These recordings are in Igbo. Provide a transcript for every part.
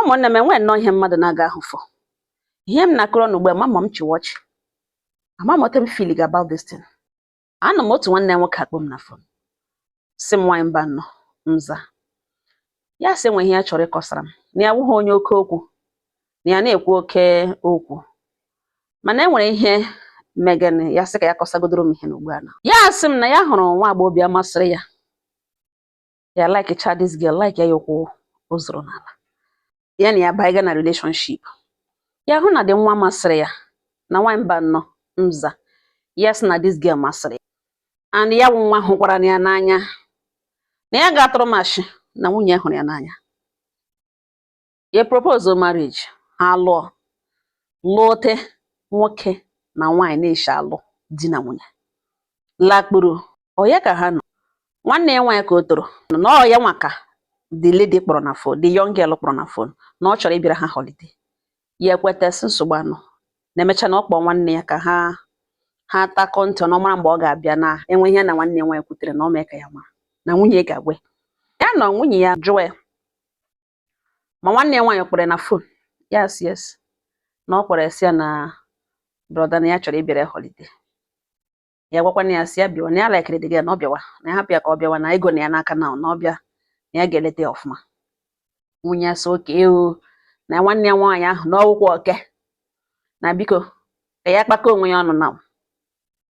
ụmụnne m enwee nnọọ ihe mmadụ na-aga ahụfọ ihe m na-akọrọ unu ugbu a mama m chịwa ọchị ama m otu m feeling about this thing anọ m otu nwanne nwoke akpọ m na phone sị m nwaanyị mbanọ m za ya sị enwe ihe ya chọrọ ịkọsara m na ya wụghị onye oke okwu na ya na-ekwu oke okwu mana e nwere ihe megene ya sị ka ya kọsagodoro m ihe n'ugbu a na ya sị m na ya hụrụ nwa agbọghọbịa masịrị ya ya like cha this girl like ya ụkwụ ọ zọrọ n'ala ya na ya banyega na relationship ya hụ na the nwa masịrị ya na nwaanyị mbanọ m za ya sị na this girl masịrị ya and ya wụ nwa hụkwara na ya n'anya na ya ga-atụrụ m ashị na nwunye ya hụrụ ya n'anya ya propose marriage ha lụọ lụọ otu nwoke na nwaanyị na-esi alụ di na nwunye lakpuru ọ ya ka ha nọ nwanne ya nwaanyị ke ọ tọrọ na ọ ya nwa ka the lady kpọrọ na phone the young girl kpọrọ na phone na ọ chọrọ ịbịara ha holiday ya ekweta sị nsogbu anọ na e mechaa na ọ kpọọ nwanne ya ka ha ha takọ ntị ọnụ mara mgbe ọ ga-abịa na enwe ihe na nwanne ya nwaanyị kwutere na o mee ka ya mara na nwunye ga-ekwe ya nọ nwunye ya jụọ ya ma nwanne ya nwaanyị kpọrọ na phone ya sị yes na ọ kpọrọ ya sị ya na brother na ya chọrọ ịbịara ya holiday ya gwakwana ya sị ya bịawa na ya laikiri the girl na ọ bịawa na ya hapụ ya ka ọ bịawa na ego nọ ya n'aka na na ọ bịa na ya ga-eleta ya ọfụma nwunye ya sị okay o na nwanne ya nwaanyị ahụ na ọ wụkwa oke na biko ka ya kpakọ onwe ya ọnụ na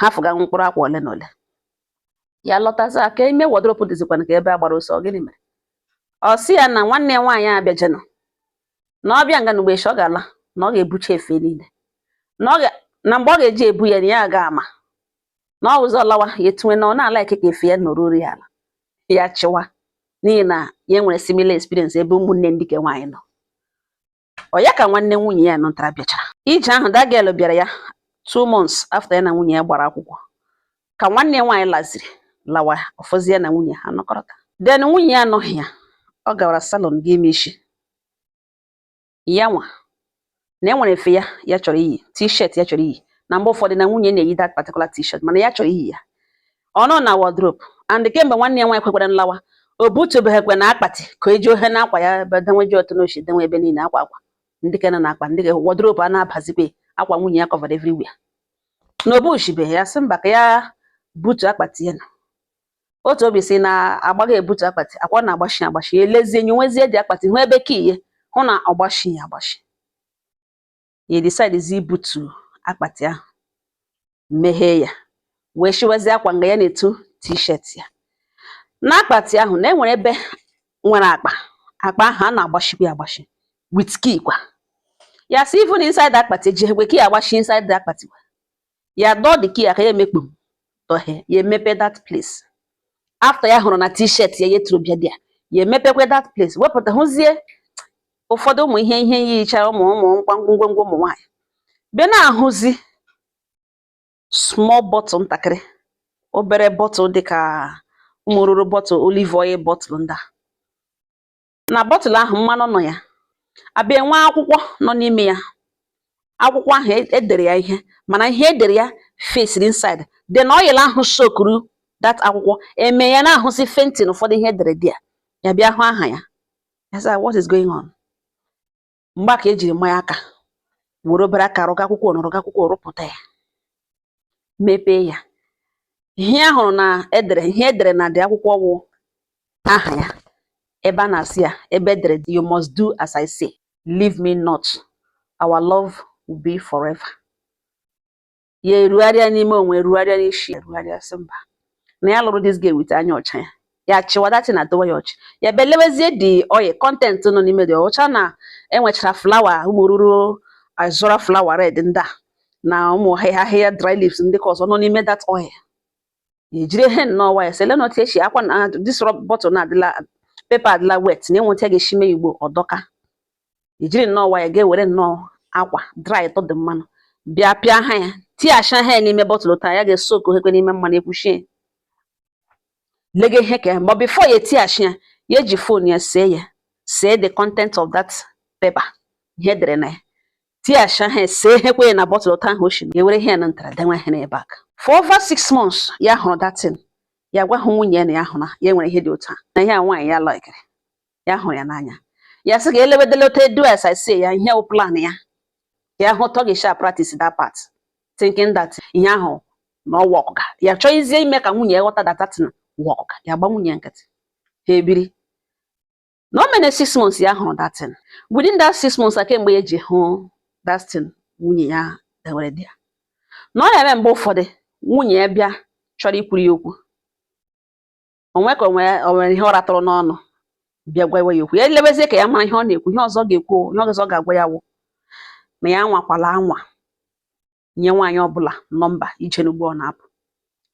hafụga mkpụrụ akwa ole na ole ya lọtazi aka ime wardrobe dịzikwana ka ebe a gbara ọsọ gịnị mere ọ sị ya na nwanne ya nwaanyị abịajenụ na ọ bịa nga unu ụbọchị ọ ga-ala na ọ ga-ebucha efe niile na mgbe ọ ga-eji ebu ya na ya aga ama na ọ ụzọ lawa ya etinwe na ọ na-ala ike ka efe ya nọrọ ori ala ya chịwa n'ihi na ya nwere similar experience ebe ụmụnne ndị ke nwaanyị nọ ọ ya ka nwanne nwunye ya nọtara bịachara ije ahụ that girl bịara ya two months after ya na nwunye ya gbara akwụkwọ ka nwanne ya nwaanyị laziri lawa ọ fọzie na nwunye ya nọkọrọta then nwunye ya anọghị ya ọ gawara salon ga ime isi ya nwa na enwere efe ya ya chọrọ iyi t-shirt ya chọrọ iyi na mgbe ụfọdụ na nwunye na-eyi that particular t-shirt mana ya chọrọ iyi ya ọ nọ na wardrobe and kemgbe nwanne ya nwaanyị kwekwara nlawa o butubeghịkwa na akpati ka eji ohe na akwa ya ebe denwe ji otu n'ochi denwe ebe niile akwa akwa ndị ka nọ na akpa ndị ka wardrobe a na-abazikwa akwa nwunye ya covered everywhere na obi shibeghị ya sị mba ka ya butu akpati ya na otu obi si na agbaghị ebutu akpati akwa na agbashi agbashi elezie enyowezie the akpati hụ ebe ka ihe hụ na ọ gbashi ya agbashi ya edecidezi ibutu akpati ahụ meghee ya wee shiwazie akwa nga ya na-etu t-shirt ya n'akpati ahụ na enwere ebe nwere akpa akpa ahụ a na-agbashikwa ya agbashi with key kwa ya sị even inside akpati eji ekwe key agbashi inside akpati kwa ya dọọ the key aka ya emee kpum tọhe ya emepe that place after ya hụrụ na t-shirt ya ya turu bịa dị ya ya emepekwe that place wepụta hụzie ụfọdụ ụmụ ihe ihe yi yichara ụmụ ụmụ ngwa ngwongwo ụmụ nwaanyị bịa na-ahụzi small bottle ntakịrị obere bottle dịka ụmụ ruru bottle olive oil bottle ndị a na bottle ahụ mmanụ nọ ya abịa nwee akwụkwọ nọ n'ime ya akwụkwọ ahụ edere ya ihe mana ihe edere ya fesiri inside then oil ahụ soakuru that akwụkwọ eme ya na-ahụsi fainting ụfọdụ ihe edere dị ya ya bịa hụ aha ya ya sị what is going on mgbe ka ejiri nwayọ aka were obere aka rụga akwụkwọ nọ rụga akwụkwọ rụpụta ya mepee ya ihe ya hụrụ na edere ihe edere na the akwụkwọ wụ aha ya ebe a na-asị ya ebe edere you must do as I say leave me not our love will be forever. ya erugharịa n'ime onwe erugharịa n'isi ya erugharịa sị mba na ya lụrụ this girl with anya ọcha ya ya chịwa that thing na dowe ya o shi ya bịa elewezie the oil content nọ n'ime dị ọcha na enwechara flower ụmụ ruru azụra flower red ndị a na ụmụ ahịhịa dry leaves ndị ka ọzọ nọ n'ime that oil ejiri ihe nnọọ nwayọ sele na otu esi akwa na this bottle na-adịla paper adịla wet na enwe ọta ga-esi mee ugbu ọ dọka ejiri nnọọ nwayọ ga-ewere nnọọ akwa dry tụ the mmanụ bịa pịa ha ya tiasha ha ya n'ime bottle taa ya ga-esoko ekwe n'ime mmanụ ekwuchie lege ihe ka ya but before ya etiasha ya ya eji phone ya see ya see the content of that paper ihe e dere na ya tiasha ha see ihe kwe ya na bottle taa ahụ o shi ya were ihe ya na ntara dewe ihe na ya back for over six months ya hụrụ that thing ya agwahụ nwunye ya na ya hụrụ ya nwere ihe dị otu a na ihe a nwaanyị ya laikiri ya hụrụ ya n'anya ya sị ka elebedela otu do as I say ya ihe wụ plan ya ka ya hụ otu ọ ga-eshi practice that part thinking that ihe ahụ na ọ workụga ya chọọzie ime ka nwunye ya ghọta that that thing workụga ya gba nwunye nkịtị ha ebiri na o meena six months ya hụrụ that thing within that six months kemgbe ya ji hụ that thing nwunye ya dewere di ya na ọ na-eme mgbe ụfọdụ nwunye ya bịa chọrọ ikwuru ya okwu onwe ka onwe onwere ihe ọ ratụrụ n'ọnụ bịa gwa ya okwu ya elebezie ka ya mara ihe ọ na-ekwu ihe ọzọ ọ ga-ekwu ihe ọzọ ọ ga-agwa ya wụ na ya nwakwala anwa nye nwaanyị ọbụla nọmba ije n'ugbu ọ na-apụ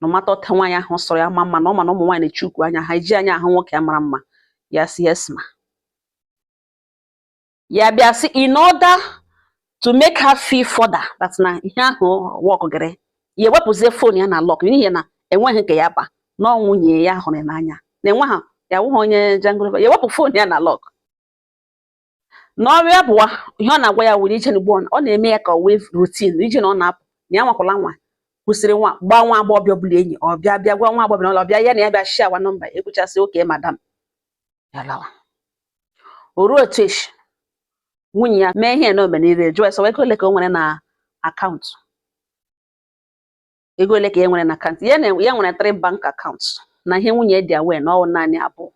no matter ọta nwaanyị ahụ sọrọ ya ma mma na ọ ma na ụmụ nwaanyị na-eche ukwu anya ha eji anya ahụ nwoke ya mara mma ya sị yes ma ya bịa sị in order to make her feel further that na ihe ahụ workịrị ya ewepụzie phone ya na lock n'ihi na enweghị nke ya ba na nwunye ya hụrụ n'anya na enweghị ya wụghị onye jangolova ya ewepụ phone ya na lock na ọ wụ ya pụwa ihe ọ na-agwa ya wụrụ ije n'ugbo ọ na-eme ya ka ọ wụ routine ije na ọ na-apụ na ya anwakwala anwa kwụsịrị nwa gbaa nwa agbọghọbịa ọbụla enyi ọ bịa bịa gwa nwa agbọghọbịa na ọ bịa ya na ya bịa sharewa number ekwuchaa sị okay madam ya lawa o ruo otu echi nwunye ya mee ihe na o me n'ire jụọ ya sị ego ole ka o nwere na akaụntụ ego ole ka e nwere na akaụntụ ya ya nwere three bank accounts na ihe nwunye dị aware na ọ wụ naanị abụọ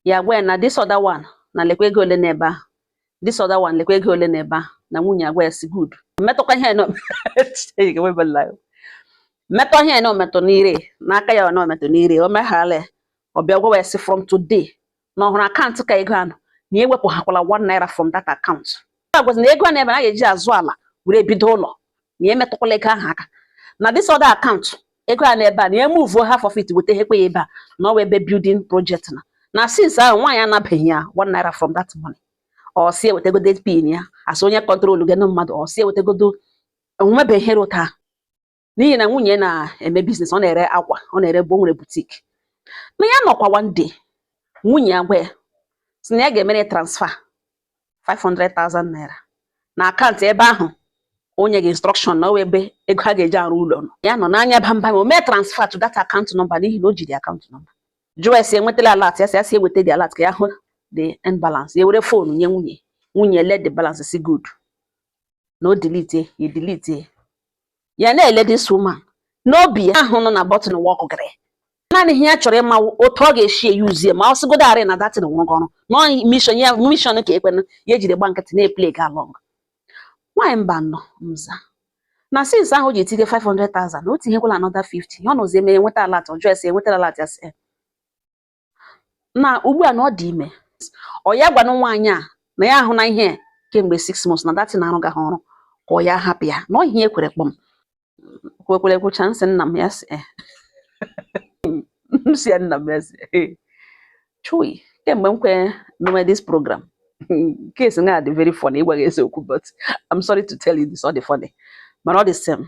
ya gwa ya na this other one na lekwa ego ole n'ebe ahụ this other one lekwa ego ole na ebe ahụ na nwunye agwa ya sị good metụkwa ihe na o metụ ihe na o metụ n'ire n'aka ya na o metụ n'ire o meghala ya ọ bịa gwa ya sị from today na ọ hụrụ akaụntụ ka ego a nọ na ewepụhakwala one naira from that account a gwazi na ego a n'ebe a ga-eji azụ ala were bido ụlọ na ya emetụkwala ego ahụ aka na this other account ego a n'ebe a na ya muvuo half of it weta hekwe ya ebe a na ọ wụ ebe building project na na since ahụ nwaanyị anabeghị ya one naira from that money ọ sị ya wetagodo pin ya asị onye control gị mmadụ ọ sị ya wetagodo o nwebeghị ihe rụta n'ihi na nwunye na-eme business ọ na-ere akwa ọ na-ere bụ o nwere boutique na ya nọkwa one day nwunye agwa ya sị na ya ga-emere transfer 500,000 naira na akaụntụ ebe ahụ o nyega instruction na ọ wụ ebe ego ha ga-eji arụ ụlọ nọ ya nọ n'anya bambam o mee transfer to that account number n'ihi na o jiri account number jụọ ya sị enwetala alert ya sị ee sị ya weta the alert ka ya hụ the end balance ya were phone nye nwunye nwunye elee the balance sị good now delete ya delete ya na-ele this woman n'obi ya ahụ nọ na that thing workịrị naanị ihe ya chọrọ ịma otu ọ ga-esi use ya ma ọ sịgodo arị na that thing rụrụ ọrụ na mission ya mission ka ekwenụ ya ejiri gba nkịtị na-eplay ga along nwaanyị mba nọ mza na since ahụ o ji etinye 500,000 o tinyekwala another 50 ọ nọzi emere nweta alert ọ jụọ ya sị enwetara alert ya sị na ugbu a na ọ dị ime ọ ya gwanụ nwaanyị a na ya ahụ na ihe kemgbe six months na that thing arụgaghị ọrụ ka ọ ya hapụ ya na ọhịa ekwere kpọm kwekwere kwuchaa m sị nna m ya sị eh. m sị ya nna m ya sị eh. chaị kemgbe m kwere meme this program case nga dị very funny ịgwa gị eziokwu but I'm sorry to tell you this ọ dị funny mana all the same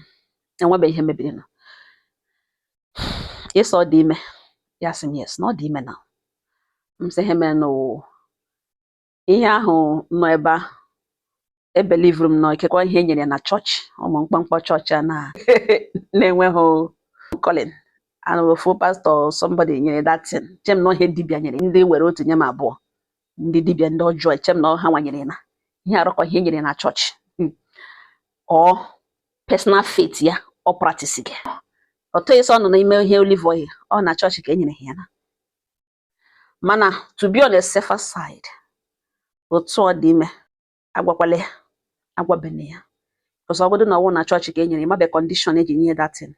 enwebeghị ihe mebiri na ị sị ọ dị ime ya sị m yes na ọ dị ime na m sị ihe mere na ọ wụ ihe ahụ nọ ebe a ebelivuru m na ọ ikekwa ihe e nyere ya na chọọchị ụmụ mkpọmkpọ chọọchị a na na-enweghị calling anụrụ ofu pastor somebody nyere that thing eche m na ọ ihe dibịa nyere ndị nwere otu nye m abụọ ndị dibịa ndị ọjọọ eche m na ha nwanyere na ihe arụkọ ihe nyere na chọọchị hmm. ọ personal faith ya ọ practice gị otu isi ọ nọ n'ime ihe olive oil ọ na chọọchị ka e nyere ya na mana to be on a safer side otu ọ dị ime agwakwala ya agwabene ya because ọ bụrụ na ọ wụ na chọọchị ka e nyere ịmabe condition e ji nye that thing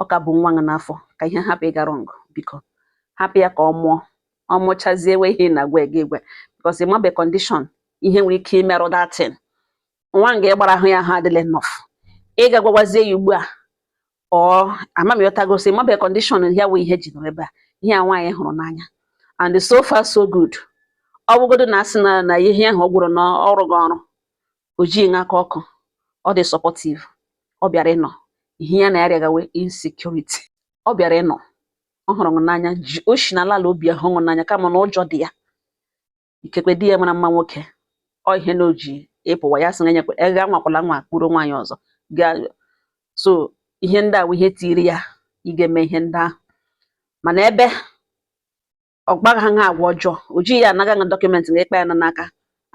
ọ ka bu nwa gị n'afọ ka ihe hapụ ịga wrong biko hapụ ya ka ọ mụọ ọ mụchazie we ihe na agwa gị agwa because ịmabe condition ihe nwere ike imerụ that thing nwa nga ịgbara ahụ ya ahụ adịla enough ị ga-agwakwazie ya ugbu a or ama m ị ghọtago sị maybe condition ya wụ ihe ji nọ ebe a ihe a nwaanyị hụrụ n'anya and so far so good ọ bụgodo na asị na na ihe ahụ ọ gwọrọ na ọ rụghị ọrụ o jighị ṅa aka ọkụ ọ dị supportive ọ bịara ịnọ ihe ya na-arịa ga wụ insecurity ọ bịara ịnọ ọ hụrụ ṅụ n'anya o si n'ala ala obi ahụ ṅụ n'anya kama na ụjọ dị ya ikekwe di ya mara mma nwoke ọ ihe na o ji ịpụwa ya sị na enyekwa ego anwakwala nwa kpụrụ nwaanyị ọzọ gaa so ihe ndị a bụ ihe tiri ya ịga eme ihe ndị ahụ mana ebe ọ kpagha ha agwa ọjọọ o ji ya anaga na document na ịkpa ya na n'aka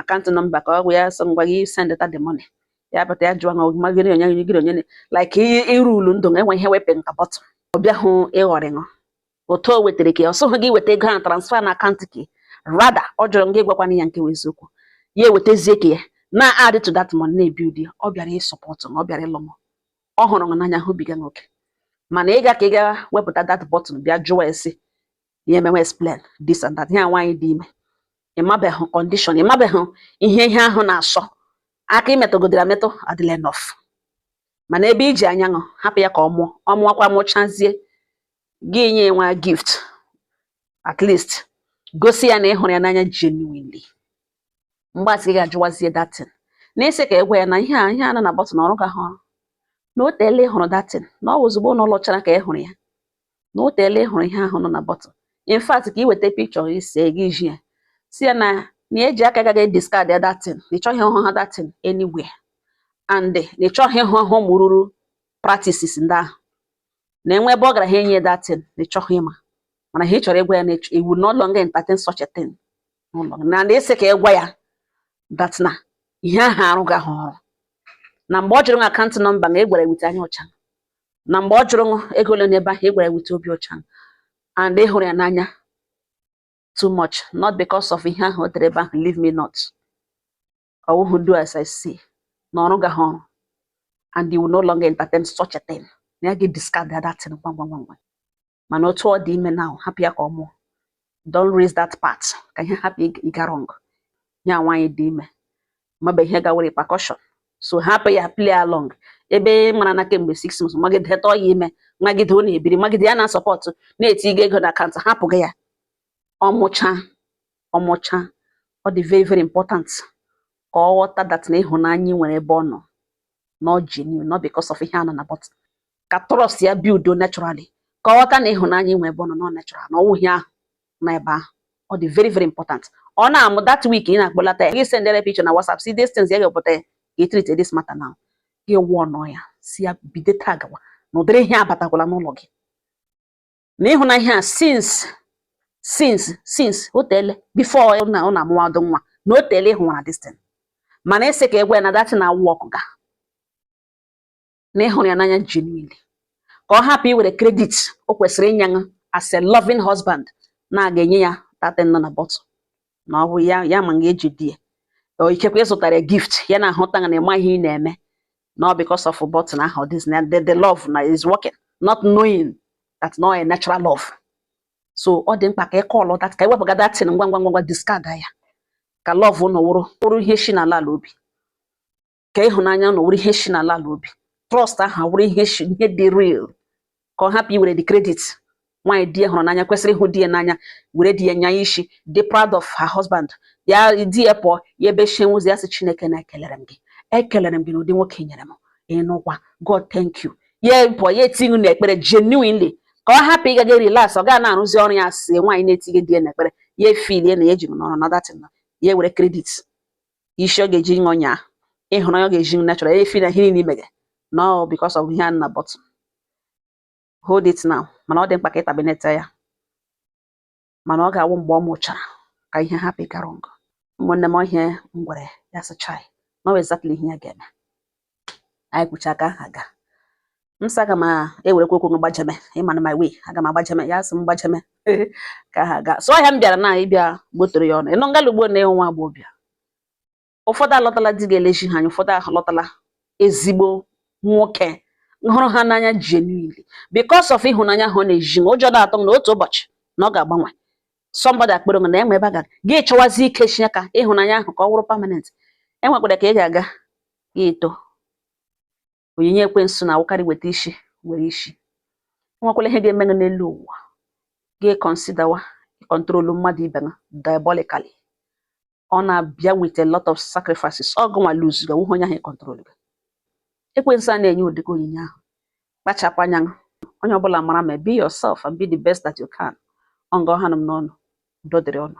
account number ka ọ gwa ya sị ngwa gị sendeta the money ya bata ya jụọ na magịrị onye gịrị onye like ịrụ ulu ndụ enwe ihe wepụ nka bottle ọ bịahụ ịghọrị ṅụ otu o wetara gị ọ sịghị gị weta ego ahụ transfer na account gị rather ọ jụrụ gị gwakwana ya nke eziokwu ya ewetazie ka ya na add to that money na-ebuild ya ọ bịara ịsupport na ọ bịara ịlụ m ọ hụrụ m n'anya hụbiga n'oke mana ịga ka ị ga wepụta that bottle bịa jụọ ese ya emewe explain this and that ihe a nwaanyị dị ime ịmabeghị condition ịmabeghị ihe ihe ahụ na-asọ aka imetụgodịra metụ adịla enough mana ebe i ji anya ṅụ hapụ ya ka ọ mụọ ọ mụọkwa mụchazie gị enye nwa gift at least gosi ya na ị hụrụ ya n'anya genuinely mgbe asị gị ga-ajụwazie that thing na ị sị ka ị gwa ya na ihe a ihe a na bottle na ọ rụgha ha ọrụ na o teela ị hụrụ that thing na ọ ozugbo ụnụ lụchara ka ị hụrụ ya na o teela ị hụrụ ihe ahụ nọ na bottle in fact ka ị weta picture gị see gị ji ya sị ya na na eji aka gaghị discard ya that thing na ịchọghị ịhụ ha that thing anywhere and na ịchọghị ịhụ ha mụrụrụ practices ndị ahụ na enwe ebe ọ gara ha enye that thing na ịchọghị ịma mana ị chọrọ ịgwa ya na you will no longer entertain such a thing n'ụlọ na na ị sị ka ị gwa ya that na ihe ahụ arụgha ha ọrụ na mgbe ọ jụrụ ṅụ account number na ị gwara ya with anya ọcha na mgbe ọ jụrụ ṅụ ego ole nọ ebe ahụ ị gwara ya with obi ọcha and ị hụrụ ya n'anya too much not because of ihe ahụ o dere ebe ahụ leave me not ọwụhụ do as I say na ọ rụgaghị ọrụ and you will no longer entertain such a thing na ya ga-discard that thing ngwa ngwa ngwa mana otu ọ dị ime now hapụ ya ka ọ mụọ don't raise that part ka ihe hapụ ịga wrong ya nwaanyị dị ime maba ihe ga-awụ repercussion so hapụ ya play along ebe ị mara na kemgbe six months magide tụọ ya ime magide ụnụ ebiri magide ya na-asọpọtụ na-etiga ego na akaụntụ hapụghị ya ọ mụchaa ọ mụchaa ọ dị very very important ka ọ ghọta that na ịhụnanya ị nwere ebe ọ nọ na ọ genuine not because of ihe a nọ na bottle ka trust ya build naturally ka ọ ghọta na ịhụnanya ị nwere ebe ọ nọ na ọ natural na ọwụghị ihe ahụ nọ ebe ahụ ọ dị very very important ọ na-amụ that week ị na-akpọlata ya gị sendere picture na WhatsApp sị this thing ya ga-epụta ya ga treat this matter now gị warnụọ ya sị ya bido taa gawa na ụdịrị ihe abatakwala n'ụlọ gị na ị hụna ihe a since since since o teele before ụnụ amụwa ọdụ nwa na o teele ị hụwara this thing mana ị sị ka ị gwa ya na that thing na work ga na ị hụrụ ya n'anya genuinely ka ọ hapụ iwere credit o kwesịrị ịnye ya as a loving husband na-aga enye ya that thing nọ na bottle na ọ bụ ya ya ma nga e ji di ya o ikekwe ị zụtara ya gift ya na-ahụta na ị maghị ihe ị na-eme na ọ because of bottle ahụ ọ dịzi na the, the love na is working not knowing that na ọ your natural love so ọ dị mkpa ka ị kọlụ that ka i wepụga that thing ngwa ngwa ngwa discard ya ka love ụnụ wụrụ wụrụ ihe shi na ala ala obi ka ịhụnanya ụnụ wụrụ ihe shi n'ala ala obi trust ahụ wụrụ ihe si ihe dị real ka ọ hapụ iwere the credit nwaanyị di ya hụrụ n'anya kwesịrị ịhụ di ya n'anya were di ya nyaa isi dị proud of her husband ya di ya pụọ ya ebe chie nwụzi ya sị chineke na ekelere m gị ekelere m gị na ụdị nwoke i nyere m ịnụkwa god thank you ya pụọ ya etinye ya na ekpere genuinely ka ọ hapụ ịgaga relax ọ gaa na-arụzi ọrụ ya si nwaanyị na-etinye di ya na ekpere ya efilie na ya ejiri n'ọrụ na that thing ya were credit isi ọ ga-eji ịhụnanya ị hụrụ ya ọ ga-eji natural ya e-feel na ihe niile i mega na ọ because of ihe a nọ na bottle hold it now mana ọ dị mkpa ka ị terminate ya mana ọ ga-awụ mgbe ọ mụchara ka ihe hapụ ịga wrong ụmụnne m ọ ihe m gwara ya sị chai na ọ exactly ihe ya ga-eme anyị kwuchaa ka ha ga m sị ya aga m ewerekwa okwu gbajeme ị manụ my way aga m agbajeme ya sị m gbajeme ka ha ga so ọ ihe a m bịara na ịbịa gbotoro ya ọnụ ịnụ ngala ugbu a na ị wụ nwa agbọghọbịa ụfọdụ alụtala di ga-elezi ha anya ụfọdụ alụtala ezigbo nwoke hụrụ ha n'anya genuinely because of ịhụnanya ahụ ọ na-ezi m ụjọ na-atụ m na otu ụbọchị na ọ ga-agbanwe somebody akpọrọ gị na e nwere ebe a ga-aga gị chọwazi ikechi ya ka ịhụnanya ahụ ka ọ wụrụ permanent enwekwara ka ị ga-aga gị atọ onyinye ekwensu na-awụkarị weta isi were isi enwekwala ihe ga-eme gị n'elu ụwa gị considerwa ịcontrol mmadụ ibe gị diabolically ọ na-abịa with a lot of sacrifices ọ gụnwa lose guard nwe onye ahụ control gị ekwensu a na-enye ụdịka onyinye ahụ kpachapụ anya onye ọbụla mara mma be yourself and be the best that you can ọ nga ọ hanụ m n'ọnụ udo dịrị ụnụ